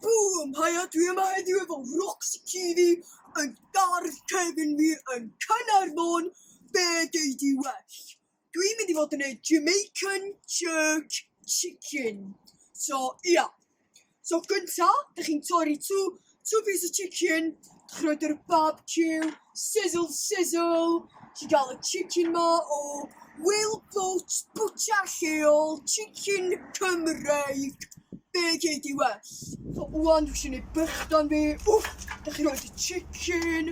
Bŵm! Haia, dwi yma heddiw efo Roxy TV yn gardd cefn wir yn Caernarfon, be gei di well? Dwi'n mynd i fod yn neud Jamaican jerk chicken, so ia. So gynta, dych chi'n torri two, two pieces of chicken, dych chi'n rhoi'r barbecue, sizzle, sizzle, chi'n gael y chicken ma o Will Boat, bwta lleol, chicken Cymreig, be gei di well? So wan, dych chi'n ei bychdan fi, wff, dych chi'n rhoi y chicken,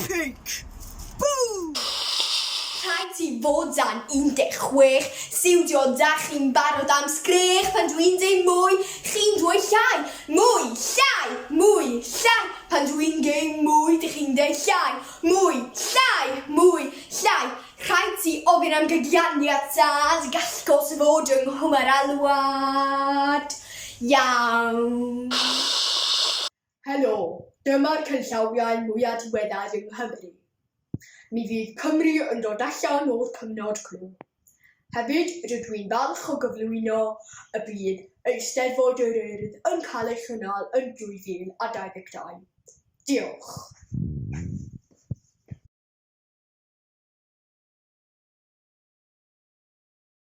Pinc! Bŵ! Rhaid ti fod dan 16, siwdio da chi'n barod am sgrech pan dw i'n deu mwy, chi'n dwy llai, mwy, llai, mwy, llai, pan dw i'n geu mwy dych chi'n deu llai, mwy, llai, mwy, llai, rhaid ti ofyn am gydianiad tad, gall gos fod yng nghwm yr alwad. Iawn. Helo, dyma'r canllawiau mwya' diweddar yng Nghymru. Mi fydd Cymru yn dod allan o'r cyfnod clo. Hefyd, rydw i'n falch o gyflwyno y bydd Eisteddfod yr Urdd yn cael ei chynnal yn 2022. Diolch.